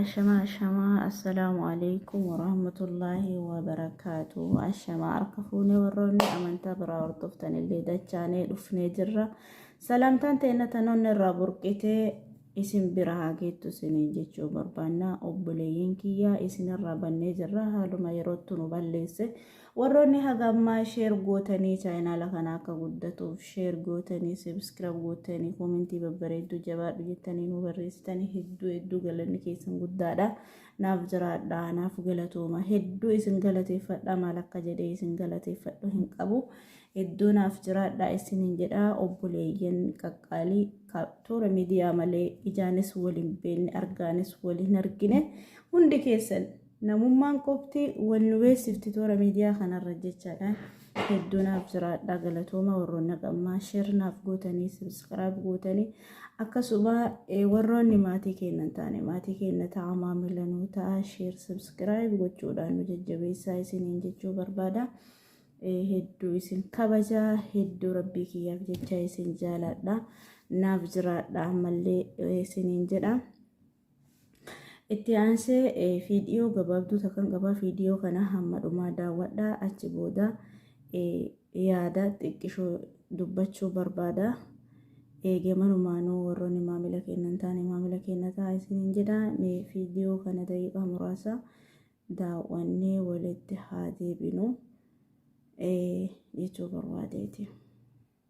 Ashamaa ashamaa assalaamu alaikum warahmatullaahi wabarakaatu ashamaa harka fuunee warroonni amantaa biraa hordoftan illee dachaanee dhufnee jirra salaamtaan teenna tanoonni irraa burqitee isin bira haa geettu isiniin jechuu barbaannaa obboleeyyiin kiyyaa isin irraa bannee jirra haaluma yerootti nu balleesse. Warroonni haga ammaa share gootanii chaayinaala kana akka guddatuuf share gootanii subscribe gootanii koomentii babbareedduu jabaadhu jettanii nu barreessitanii hedduu hedduu galanni keessan guddaadha. Naaf jiraadha naaf galatooma hedduu isin galateeffadha maal akka jedhee isin galateeffadhu hin qabu. Hedduu naaf jiraadha isin hin jedha obboleeyyan qaqqaalii toora miidiyaa malee ijaanis waliin beenne argaanis waliin argine hundi keessan Namummaan qofti wal nu beeksifti toora miidiyaa kanarra jechaadha. Hedduu naaf jiraadha galatooma warroonni qammaa sheer naaf gootanii sabiskiraayib gootanii akkasuma warroonni maatii keenya hin taane maatii keenya ta'a maamila nuu ta'a sheer sabiskiraayib gochuudhaan nu jajjabeessaa isiniin jechuu barbaada. Hedduu isin kabaja hedduu rabbii kiyyaaf jecha isin jaaladha naaf jiraadha ammallee isiniin jedha. Itti aansee fiidiyoo gabaabduu takkan qabaa fiidiyoo kana hamma dhumaa daawwadhaa achi booda yaada xiqqishoo dubbachuu barbaada. Eegee manumaanuu warroonni maamila keenya hin taane maamila keenya ta'a isiniin jedha. Mee fiidiyoo kana daqiiqaa muraasa daawwannee walitti haa deebinu jechuu barbaadeeti.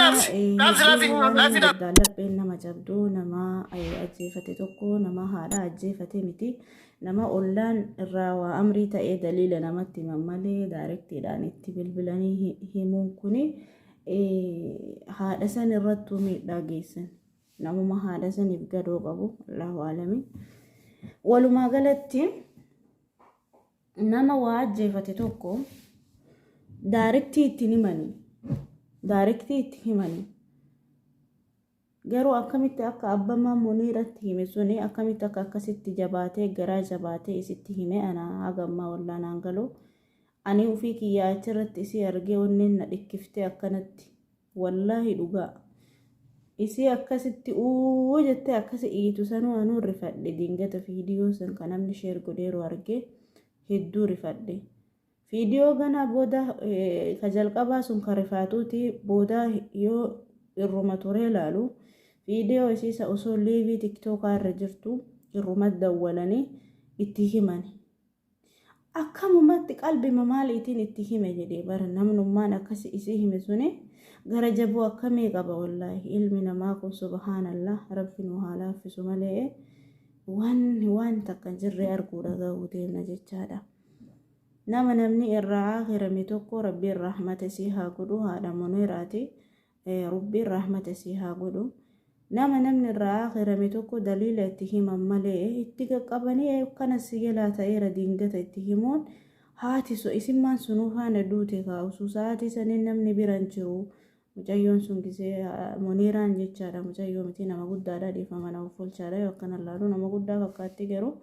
Gachaanee jabaa hedduu waan mirgaan lapheen nama cabdu nama ajjeefate tokko nama haadha ajjeefate miti. Nama ollaan irraa waa amrii ta'ee daliila namatti himan malee daarektiidhaan itti bilbilanii himuun kun haadha san irrattuu miidhaa geessan. Namuma haadha saniif gadoo qabu Allahu aalami. Walumaa galatti nama waa ajjeefate tokko daarektii itti himanii daarektii itti himanii Garuu akkamitti akka abbamaa muniiratti hime suni akkamitti akka akkasitti jabaatee garaa jabaatee isitti hime ana haga ammaa wallaa naan galu ani ufii kiyyaa achirratti isii argee onneen na dhikkiftee akkanatti wallaahi dhugaa isii akkasitti uu jettee akkasi iyyitu sanuu anuu rifadhe dingata viidiyoo san kan namni sheer godheeru argee hedduu rifadhe. Viidiyoo ganaa booda ka jalqabaa sun ka rifaatuuti booda yoo irruma turee laalu viidiyoo isiisa osoo liivii tiktookaa irra jirtu irruma dawwalanii itti himani. Akkamumatti qalbima maaliitiin itti hime jedhee bara namnummaan akkasi isii hime suni gara jabuu akkamii qaba wallaahi ilmi namaa kun subhaanallah rabbi nu haa laaffisu malee waan waan takka jirree arguu dhaga'uu deemna jechaadha. Nama namni irraa aakirame tokko rabbiin rahmata isii haa godhu haadha muniraati rubbiin rahmata isii haa godhu nama namni irraa aakirame tokko daliila itti himan malee itti qaqqabanii akkana si jalaa ta'eera diingata itti himuun haati so isimmaan sunuu faana duute kaa'usu sa'aatii saniin namni biran jiru Mucayyoon sun gisee Muniiraan jechaadha mucayyoo miti nama guddaadha dhiifama na offolchaadha yoo akkana laalu nama guddaa fakkaatti garuu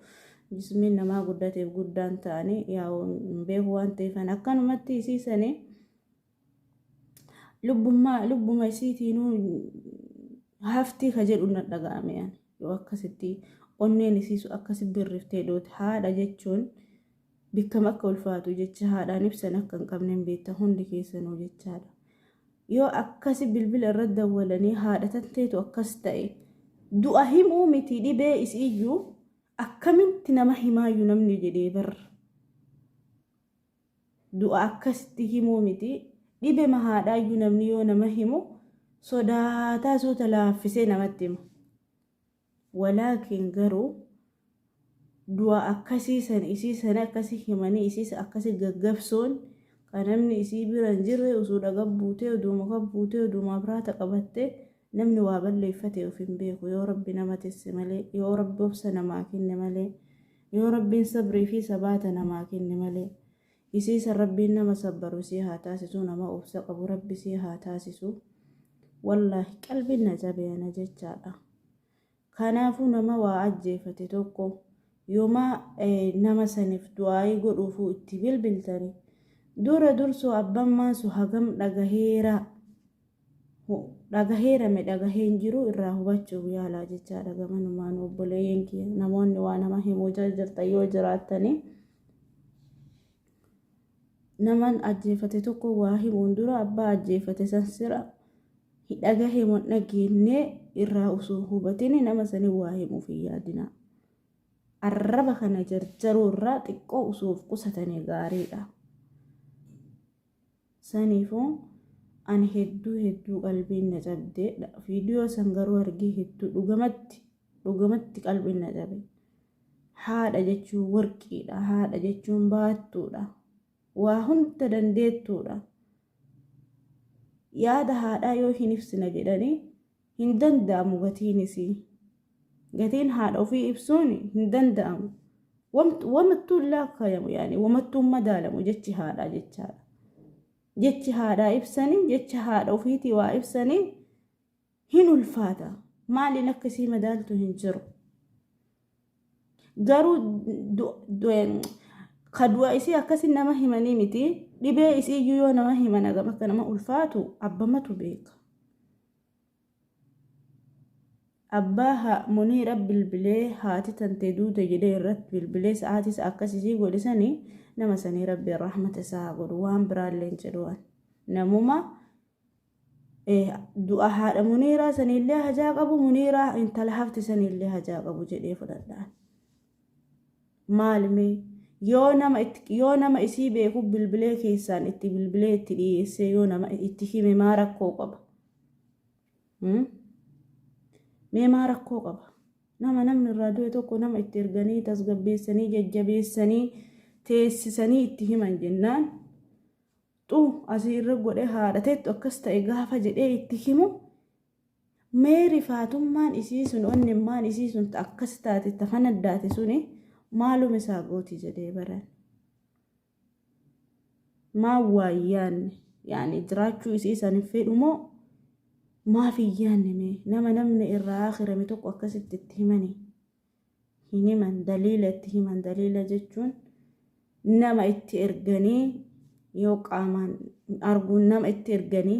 jismiin namaa guddateef guddaan ta'ani yaa'u hin beeku waan ta'eefan akkanumatti isii sani lubbummaa lubbuma isiitiinuu haftii ka jedhu na dhaga'ame ani. yoo akkasitti onneen isiisu akkasi birriftee duute haadha jechuun bikkam akka ulfaatu jecha haadhaan ibsan akka hin qabne hin beektan hundi keessanuu jechaadha. Yoo akkasi bilbila irra dawwalanii haadha tanteetu akkas ta'e du'a himuu miti dhibee isiyyuu akkamitti nama himaayyuu namni jedhee barra. du'a akkasitti himuu miti. Dhibema haadhaayyuu namni yoo nama himu sodaataa suuta laaffisee namatti hima. Walaakin garuu du'a akkasii san isii sana akkasi himanii isiis akkasi gaggabsuun ka namni isii bira hin jirre usuudha gabbuutee uduuma gabbuutee uduuma abraata qabatte namni waa balleeffate of hin beeku yoo rabbi nama tisse malee yoo rabbi obsa namaa kenne malee Yoo Rabbiin sabrii fi sabaata namaa kenne malee. Isii san Rabbiin nama sabbaru isii haa taasisu nama obsa qabu Rabbi isii haa taasisu. Wallaahi qalbiin na cabe ana jechaadha. Kanaafuu nama waa ajjeefate tokko yoma nama saniif du'aa'ii godhuufuu itti bilbiltani dura dursoo abban maansu hagam dhagaheera dhagaheera me dhagahee hin jiru irraa hubachuuf yaalaa jechaadha gamanumaan obboleeyyan kiyya namoonni waa nama himuu jirtan yoo jiraattanii naman ajjeefate tokko waa himuun dura abbaa ajjeefate san sira dhagahee moo dhageenne irraa osoo hubatini nama sanii waa himuuf hin yaadinaa arraba kana jarjaruu irraa xiqqoo osoo of qusatanii gaariidha. Saniifuu Ani hedduu hedduu qalbiin na cabde video san garuu argee hedduu dhugamatti dhugamatti qalbiin na cabe haadha jechuun warqiidha haadha jechuun baattuudha waa hunda dandeettuudha yaada haadhaa yoo hin ibsina jedhanii hin danda'amu gatiin isii gatiin haadha ofii ibsuun hin danda'amu wamattuu hin laakkayamu yaani wamattuu hin madaalamu jechi haadhaa jechaadha jechi haadhaa ibsanii jecha haadha ofiitii waa ibsanii hin ulfaata maaliin akka isii madaaltu hin jiru garuu ka du'a isii akkasi nama himanii miti dhibee isii iyyuu yoo nama himan agam akka nama ulfaatu abbamatu beeka Abbaa ha muniira bilbilee haati tante duute jedhee irratti bilbilee sa'aatis akkas isii godhe sani nama sanii rabbiin rahmata isaa haa godhu waan biraallee hin jedhuwan namuma du'a haadha muniiraa saniillee hajaa qabu muniiraa intala hafte saniillee hajaa qabu jedhee fudhadhaan. maali mee yoo nama itti yoo nama isii beeku bilbilee keessaan itti bilbilee itti dhiyeessee yoo nama itti hime maa rakkoo qaba Hmm? mee maa rakkoo qaba nama namni irraa du'e tokko nama itti erganii tasgabbeessanii jajjabeessanii teessisanii itti himan jennaan xu asii irra godhe haadhateettu akkas ta'e gaafa jedhee itti himu Mee rifaatummaan isii sun onnimmaan isii sun ta akkas taate ta fanaddaate suni maalum isaa gooti jedhee baran. Maa waayyaanne yaani jiraachuu isii san hin fedhu moo maaf hin yaanne mee nama namni irraa akhirame tokko akkasitti itti himanii. hin himan daliila itti himan daliila jechuun nama itti erganii yoo qaamaan arguun nama itti erganii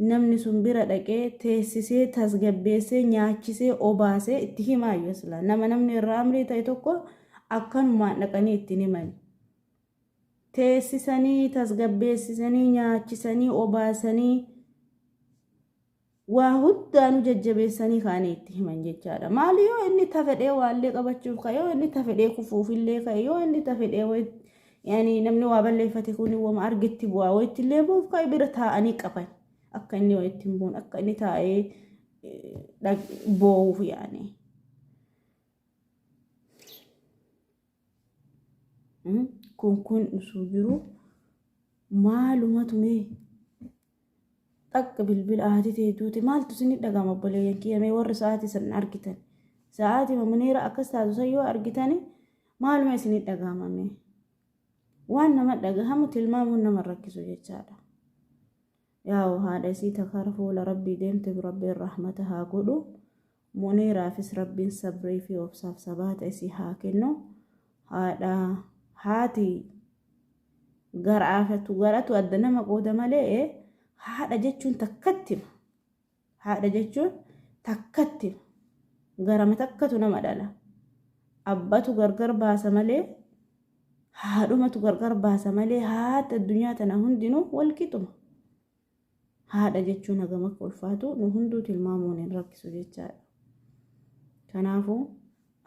namni sun bira dhaqee teessisee tasgabbeessee nyaachisee obaasee itti himaa yoo silaa nama namni irraa amrii ta'e tokko akkanumaan dhaqanii ittiin himani. Teessisanii tasgabbeessisanii nyaachisanii obaasanii waa hundaa nu jajjabeessanii kaanii itti himan jechaadha. Maali yoo inni tafedhee waallee qabachuuf ka'e yoo inni tafedhee kufuufillee ka'e yoo inni tafedhee yani namni waa balleeffate kun wama argitti bu'aa wayitti illee bu'uuf ka'e bira taa'anii qaban akka inni wayitti hin buun akka inni taa'ee boo'uuf yaani. Kun kun osoo jiru maalumatu mee Dhaqqa bilbila haati tee duute maaltu isinni dhagama obboleeyyan kiyya mee warri sa'aatii san argitan sa'aatii mamuniira akkas taatu san yoo argitani maaluma isinni dhagama mee waan nama dhagahamu tilmaamuun nama rakkisu jechaadha yaa'u haadha isii takara fuula rabbii deemte rabbiin rahmata haa godhu Muniiraafis Rabbiin sabrii fi obsaaf sabaata isii haa kennu. Haadha haati garaafatu garatu adda nama qooda malee haadha jechuun takkatti haadha jechuun takkatti garama takkatu nama dhala. Abbatu gargar baasa malee haadhumatu gargar baasa malee haati addunyaa tana hundinuu wal qixuma. haadha jechuun hagam akka ulfaatu nu hunduu tilmaamuun hin rakkisu jechaadha. Kanaafuu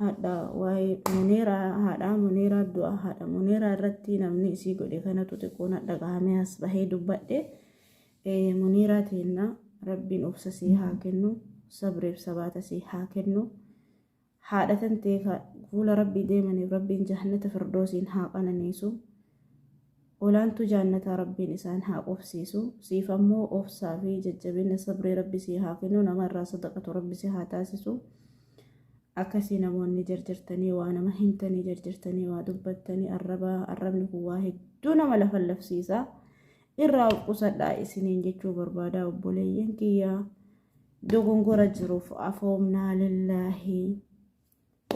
haadha waa'ee muneeraa haadhaa muneeraa du'a haadha muneeraa irratti namni isii godhe kanatu xiqqoo na dhagahamee as bahee dubbadhe muneeraa teenna rabbiin obsa sii haa kennu sabriif sabaata sii haa kennu. Haadha tantee ka fuula Rabbii deemaniif Rabbiin Jahannata Firdoosiin haa qananiisu. Olaantuu Jaannataa Rabbiin isaan haa qubsiisu. Siif ammoo obsaa fi jajjabina sabrii Rabbi sii haa kennu. Nama irraa sadaqatu Rabbi si haa taasisu. Akkasii namoonni jarjartanii waa nama himtanii jarjartanii waa dubbattanii arraba arrabni kun waa hedduu nama lafallafsiisa. Irraa of qusadhaa isiniin jechuu barbaadaa obboleeyyan kiyyaa. dogongora jiruuf afoomnaa lillaahi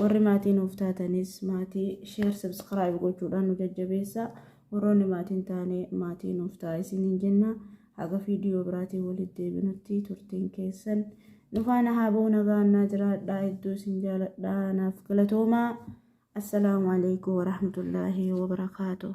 warri maatii nuuf taatanis maatii sheer sabskiraayib gochuudhaan nu jajjabeessa warroonni maatiin taane maatii nuuf ta'a isiniin jenna haga viidiyoo biraatiin walitti deebinutti turtiin keessan nufaana haaboo nagaannaa jiraadhaa hedduu isin jaaladhaa naaf galatoomaa assalaamu alaikum warahmatullaahi wabarakaatuh